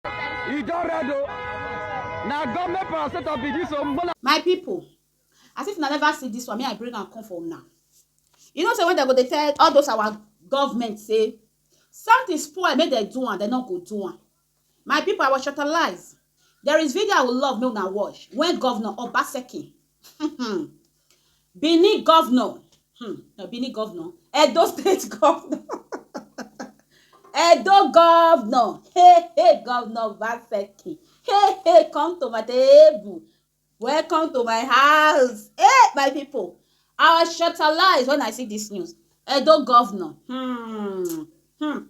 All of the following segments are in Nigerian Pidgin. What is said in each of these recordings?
e don red o na government parastatal be this o mola. my people as if una never see this one me i bring am come for una you know say when dem go dey tell all those our government say something spoil make dem do am dem no go do am my people i was shortalized there is video i would love make una watch when governor obaseki um Benin governor um na Benin governor Edo state governor Edo governor hey hey governor Obaseki hey hey come to my table welcome to my house hey my people I was shutterlized when I see this news Edo governor um um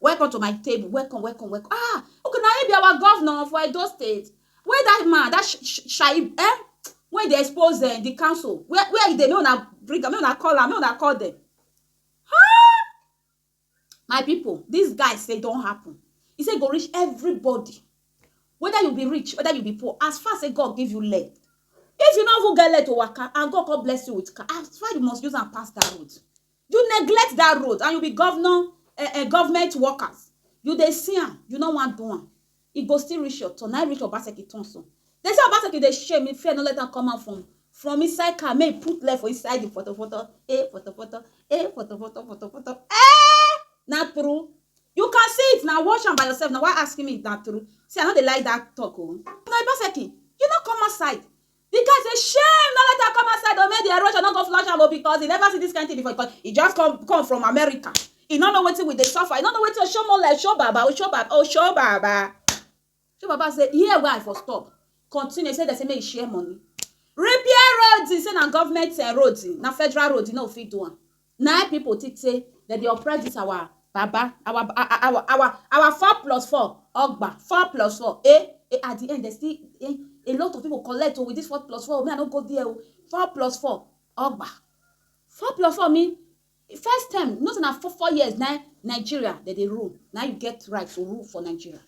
Welcome to my table, welcome, welcome, welcome. Ah, okay, na him be our governor for Edo State. Where that man, that sh sh Shaib, eh? When they expose uh, the council, where where they make una bring am, make una call am, make una call them. Huh? My people, this guy say don happen. He say go reach everybody, whether you be rich, whether you be poor. As far say God give you leg, if you no even get leg to waka, and God come bless you with car, as far you must use am pass that road. You neglect that road and you be governor eh eh government workers you dey see am you no wan do am e go still reach your turn na im reach Obaseki turn so dem say Obaseki dey shame if fear no let am come out from from inside car make e put leg for inside the potopoto eh potopoto eh potopoto potopoto eh na true you can see it na watch am by yourself na why asking me if na true see I no dey like that talk o Obaseki you no come outside Di guy say shame no let am come outside o make di erosion no go flush am o because e never see dis kind thing before because e just come come from America e no know wetin we dey suffer e no know wetin Oshomola Oshobaba Oshobaba Oshobaba Oshobaba say here wey I for stop continue say dem say make e share money repair road say na government eh, road na federal road e no fit do am. Nai people think say dem dey oppress this our baba, our our our our four plus four ogba, four plus four eh eh at the end dem still eh a lot of people collect o with this four plus four me I no go there o four plus four ogba, four plus four mean first term you know say na four four years na him Nigeria dem dey rule na him you get right to rule for Nigeria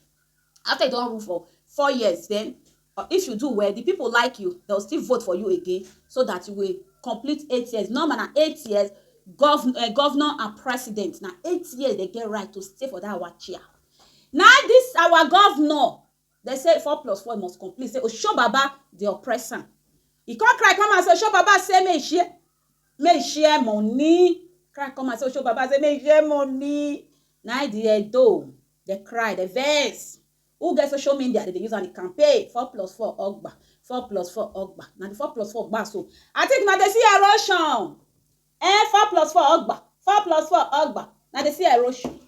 after you don rule for four years then Or if you do well, di pipo like you, dem go still vote for you again so dat you go complete eight years. Normal na eight years, govnor and president na eight years dem get right to stay for dat our chair. Na dis our govnor dem say four plus four e must complete say Osho baba dey oppress am. E come cry come out say Osho baba say make e share make e share moni, cry come out say Osho baba say make e share moni. Na im di Edo dem cry, dem vex Who get social mendia dem dey use am dey campaign four plus four ogba four plus four ogba na di four plus four gba so I think na dey see erosion eh four plus four ogba four plus four ogba na dey see erosion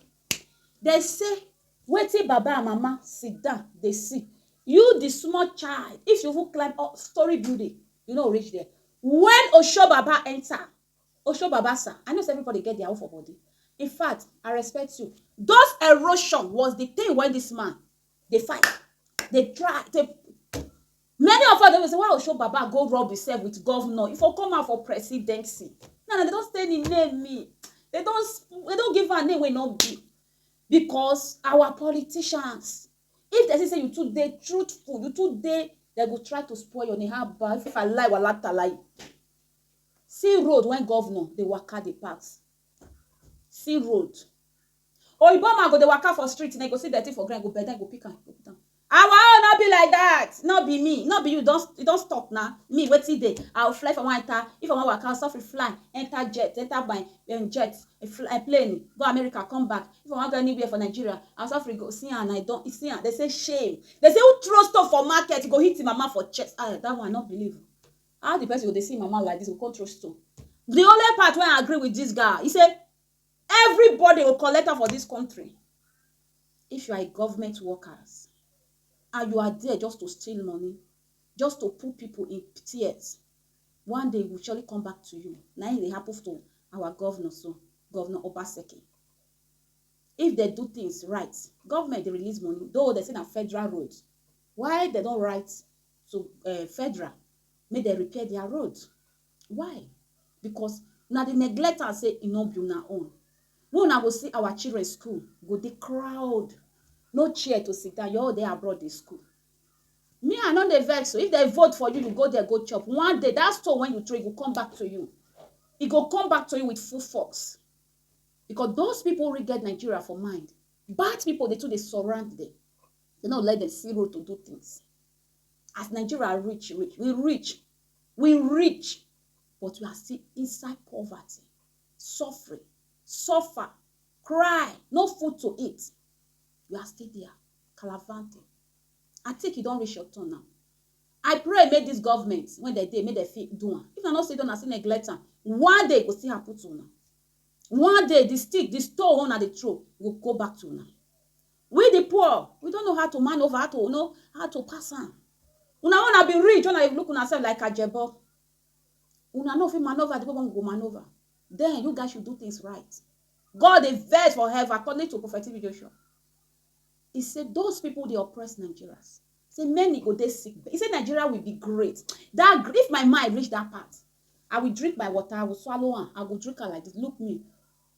dey say wetin baba and mama sit down dey see you di small child if you even climb up story building you no go reach there wen osho baba enter Osho baba sir, I know say everybody get their own for body. In fact, I respect you. Those erosion was the thing when this man dey fight, dey try, dey Many of us dey say, why Osho baba go rub himself with governor? He for come out for presidency. Now, now they don stain him name me. They don they don give am name wey no be. Because our politicians, if they see say you too dey truthful, you too dey, they go try to spoil your name. How about if I lie walatalayi? See road when governor dey waka dey pass See road Oyibo man go dey waka for street now e go see dirty for ground e go bend down e go pick am go put am Our own no be like that No be me No be you don you don stop na Me wetin dey I will fly if I wan enter If I wan waka I suffer fly Enter jet enter my um jet fly plane go America come back If I wan go anywhere for Nigeria I suffer go see am na e don see am Dem say shame Dem say who throw stone for market e go hit him mama for chest Ah that one I no believe How the person go dey see him mama like this go come throw stone? The only part wey I agree with this guy, he say everybody go collect am for this country. If you are a government workers and you are there just to steal money, just to put people in tears, one day e go surely come back to you. Na im dey happen to our governor so, Governor Obaseki. If they do things right, government dey release money, though they say na federal road. Why they don write to um federal make dem repair their road. Why? Because una dey neglect am say e no be una own. Wey una go see our children school go dey crowd, no chair to sit down, you all dey abroad dey school. Me, I no dey vex o. If dem vote for you, you go there go chop. One day, that stone wey you throw, e go come back to you. E go come back to you with full force. Because those people really get Nigeria for mind. Bad people dey too dey surround them. Dem no let dem see road to do things. As Nigeria rich, rich, we rich, we rich, but we are still inside poverty, suffering, suffer, cry, no food to eat. You are still there, calavanting. I think you don't reach your turn now. I pray make this government, when they dey, make they fit do am. If I not say don't, I say neglect am. One day go still happen to una. One day the stick, the stone una dey throw go go back to una. We the poor we don't know how to man over how to know how to pass am. Una una be rich una dey look una self like ajebo. Una no fit maneuver the way one go maneuver. Then you guys should do things right. God dey vex for heaven according to Prophet TB Joshua. He say those people dey oppress Nigerians. Say many go dey sick. He say Nigeria will be great. That if my mind reach that part, I will drink my water, I will swallow am, I will drink am like this. Look me.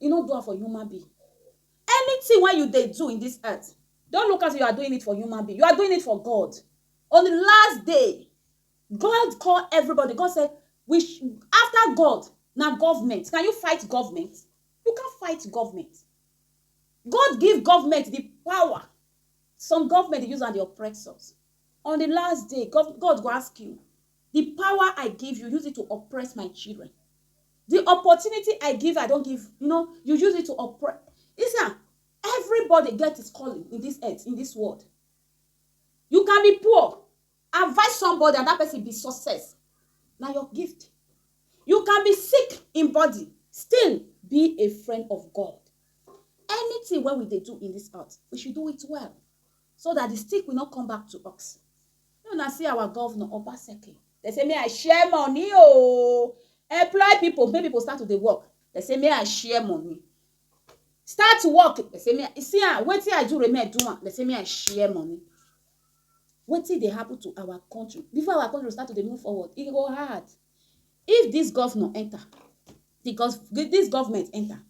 E no do am for human being. Anything wey you dey do in this earth, don't look as if you are doing it for human being, you are doing it for God. On the last day, God call everybody, God say, we after God, na government. Can you fight government? You can't fight government. God give government the power. Some government dey use am dey oppress us. On the last day, God go ask you, Di pawa I give yu, use it to oppress my children. Di opportunity I give I don give you know yu use it to oppress you see am everybody get his calling in dis earth in dis world you can be poor advise somebody and dat pesin be success na your gift you can be sick in body still be a friend of God anything wey we dey do in dis earth we should do it well So that the stick will not come back to us. Make una see our governor, Obaseki. They say, may I share money, oh. Employ people, make people start to dey work. They say, may I share money. Start to work. They say, may I, see, ah, wetin I do, remain do am. They say, may I share money. Wetin dey happen to our country? Before our country start to dey move forward, e go hard. If this governor enter, the gov this government enter,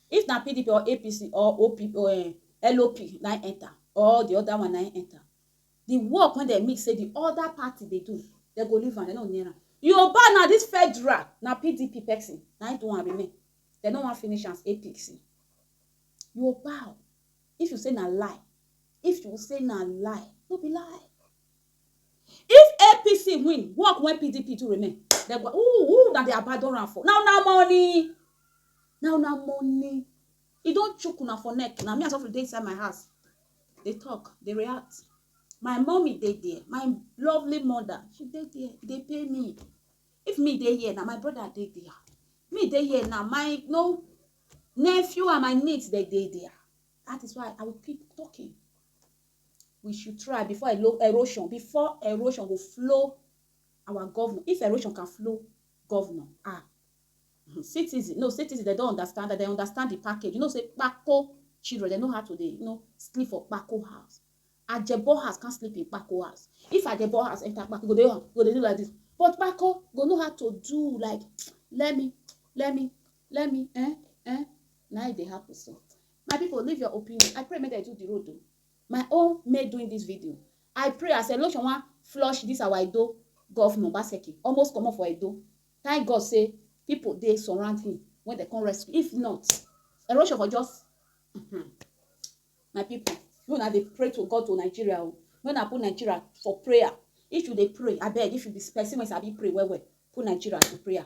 If na pdp or APC or OP or um LOP na im enter or the other one na im enter, the work wey dem mix say the other party dey do, dem go leave am, dem no go near am. Yoruba now, this federal, na pdp person na im do am remain. Dem no wan finish am as APC. Yoruba o, if you say na lie, if you say na lie, no be lie. If APC win work wen PDP do remain dem go who who una dey abandon am for na una money na una money e don chook una for neck na me as of dey inside my house dey talk dey react my mommy dey there my lovely mother she dey there e dey pay me if me dey here na my brother dey there me dey here na my no nephew and my niece dey dey there that is why I will keep talking we should try before erosion before erosion go flow our governor if erosion can flow governor ah hmm, citizen no citizen they don't understand that they understand the package you know say kpako children they know how to dey you know sleep for kpako house ajebo house can sleep in kpako house if ajebo house enter kpako go dey go dey do like this but kpako go know how to do like let me let me let me eh eh na e dey happen so My people leave your opinion. I pray make dem do the road o. My own made doing this video. I pray as election wan flush this our Edo governor Obaseki almost comot for Edo. Thank God say people dey surround him when they come rescue. If not, erosion for just mm-hmm. my people. You una dey pray to God to Nigeria o. Make una put Nigeria for prayer. If you dey pray, abeg if you be person wey sabi pray well well, put Nigeria to prayer.